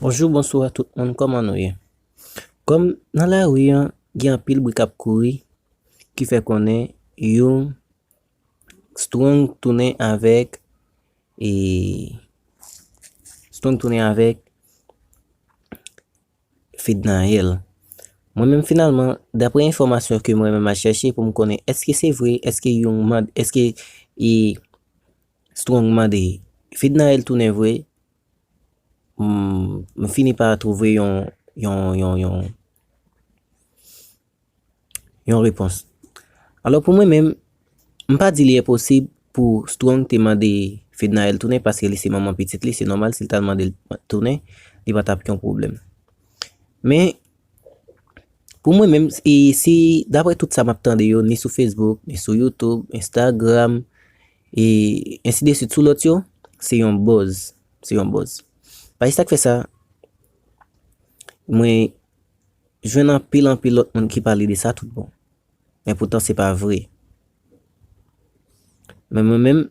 Bonjou bonswa tout moun kòman nou ye kòm nan lari an gen anpil bri kap kouri ki fè konnen yon strong tounen avèk e strong tounen avèk fednaelle mwen menm finalman daprè enfòmasyon ke mwen menm al chèche pou m konnen èske se vre èske yon mand èske e Strong mande, Fednaelle tounen vre? M fini pa twouve yon, yon, yon, yon, yon repons. Alò pou mwen menm, m pa di li enposib pou Strong te mande Fednaelle tounen paske li se manman pitit li, se nòmal si l ta l mande l tounen, li pa t ap yon pwoblèm. Men, pou mwen menm, e si, daprè tout sa m ap tande yo, ni sou Facebook, ni sou YouTube, Instagram, E ainsi de suite sou lòt yo, se yon buzz, se yon buzz. Paj sa k fè sa mwen jwenn anpil anpil lòt moun ki pale de sa tout bon. Men poutan se pa vre. Men mwen menm,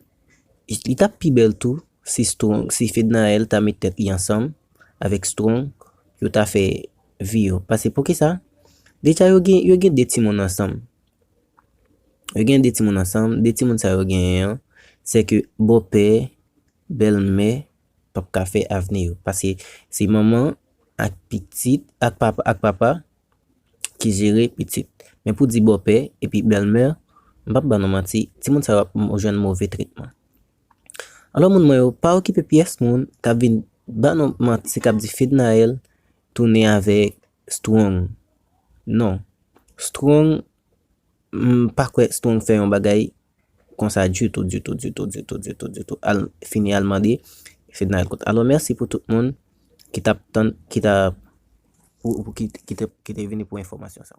li t ap pi bèl tou si Strong, si Fednaelle ta met tèt li ansanm avèk Strong pou yo ta fè vi yo. Pase poukisa? Deja yo gen, yo gen 2 timoun ansanm. Yo gen 2 timoun ansanm, 2 timoun sa yo genyen an, sè ke bòpè, bèlmè pa p ka fè avni yo. Paske se manman ak pitit, ak papa, ak papa ki jere pitit. Men pou di bòpè epi bèlmè, m pa p ba nou manti, timoun sa yo ap jwenn move tretman. Alò moun mwen yo, pa okipe pyès moun k ap vin ba nou manti, k ap di Fednaelle tounen avèk Strong, Non. Strong, M pa kwè Strong fè yon bagay konsa ditou, ditou, ditou, ditou, ditou, ditou. Al fini al mande Fedna yon kont. Alò mèsi pou tout moun ki t ap tann, ki t ap, ki te vini pou enfòmasyon sa.